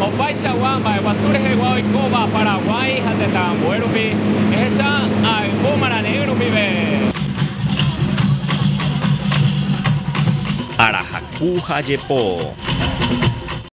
Opaichagua mba'eguasu rehegua oikóva Paraguái ha tetã ambue rupi, ehecha ayvu marare'ỹ rupive. Arahaku ha jepo.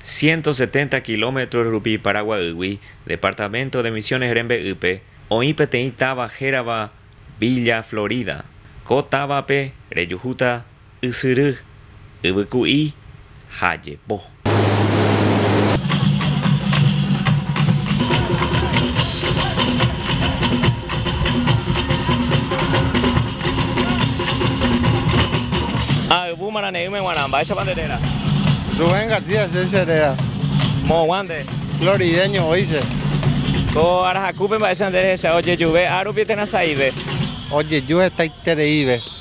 Ciento setenta kilómetros rupi Paraguaýgui, departamento de Misiones rembe'ýpe, oĩ peteĩ táva hérava Villa Florida. Ko távape rejuhúta Ysyry, yvyku'i ha jepo. Ha yvu marane'ỹme g̃uarã. Mba'éichapa nde réra? Rubén García che che réra. Moõguã nde. Florideño oĩ che. Ko ára hakúpe mba'éicha nde rehechauka ojejuve árupi térã sa'ive. Ojeju hetaitereíve.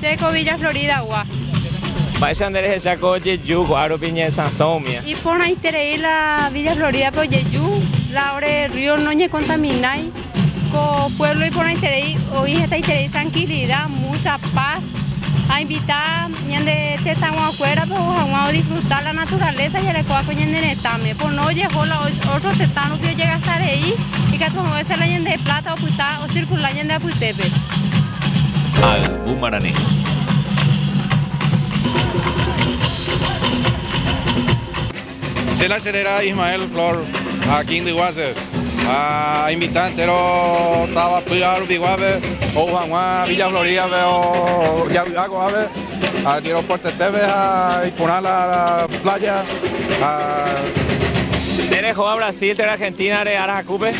Che ko Villa Florida gua. Mba'éicha nde rehecha ko jeju ko'a rupi ñe sãso umi. Iporãiterei la Villa Florida pe ojeju, la ore río no ñe kontaminái. Ko pueblo iporãiterei oĩ hetaiterei trankilida, mucha paz. A invita ñande tetãgua kuéra pe ou haguã o disfruta la naturaleza jarekóva ko ñane retãme. Pono ojeho la otro tetã rupi ojegastarei ikatu a veces la ñande plata opyta o circula ñande apytépe. Ayvu marane. Che la cherera Ismael Flor ha King Diguase ha invita entero táva py'a rupiguápe ou hag̃ua Villa Florídape javy'a ko'ápe aeropuertoetépe ha iporã la pláya ha Nde rehóva Brasil térã Argentínare ára hakúpe?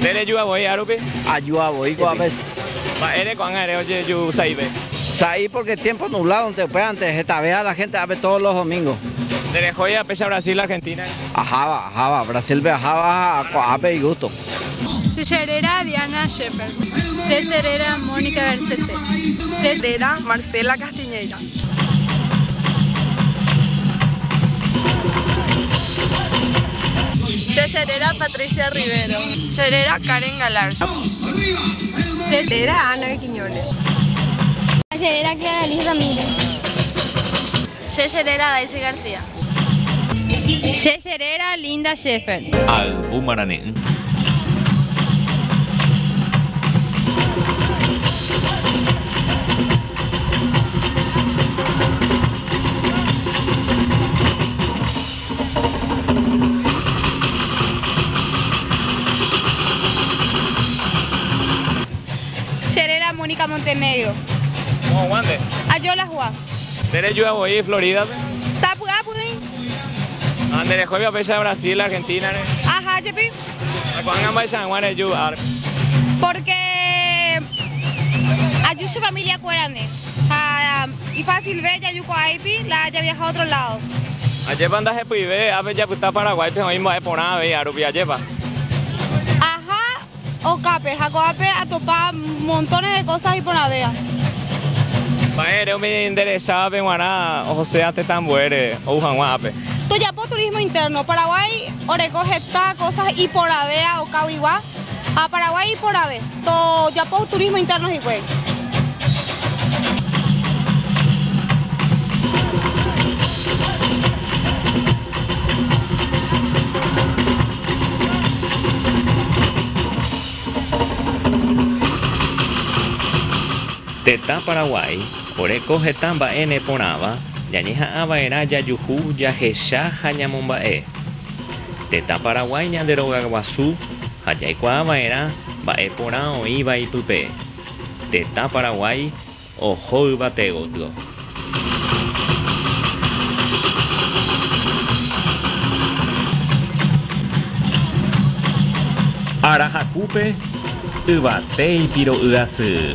Nde rejúa voi árupi? Ajúa voi ko'ápe. Mba'ére ko'ág̃a ere ojeju'u sa'ive? Sa'i pórke tiémpo nubládonte upévante hetavea la hénte ápe tódos los domíngos. Nde rehói apéicha Brasil Argentínape? Aháva, aháva. Brasílpe aháva ha ko'ápe igústo. Che che réra Diana Shepherd. Che che réra Mónica Garcete. Che che réra Marcela Castellanos. Che réra Patricia Rivero. Che réra Karen Galarza. Che réra Ana Quiñones. Che réra Clara Liz Ramírez. Che che réra Daisy García. Che che réra Linda Schäfer. Ayvu marane'ỹ. Che réra Mónica Montenegro. Ajola hua. Nde rejúa voi Floridape? Sapy'a py'ỹi. Ha nde rehóiva péicha Brasil, Argentina-re? Aha jepi. Ha ko'ág̃a mba'eicha hag̃ua reju árpe? Pórke aju che família kuérandi ha ifásilve jaju ko'ã ipi la javiaha ótro ládo. Ajépa ndahepyive ápe japyta Paraguáipe oĩ mba'e porã avei árupi, ajépa? Aha Okápe ha ko'ápe atopa montones de cosas iporãvéva. Mba'ére umi nderechávape g̃uarã ohosea tetã ambuére ou hag̃ua ápe? Tojapo turismo interno. Paraguái oreko heta cosas iporãvéva okáguigua ha Paraguái iporãve. Tojapo turismo interno hikuái. Tetã Paraguái oreko heta mba'e neporãva ñañeha'ãva'erã jajuhu, jahecha ha ñamomba'e. Tetã Paraguái ñande rogaguasu ha jaikuaava'erã mba'e porã oĩva ipype. Tetã Paraguái. Oho yvate gotyo. Ára hakúpe yvate ipiro'y asy.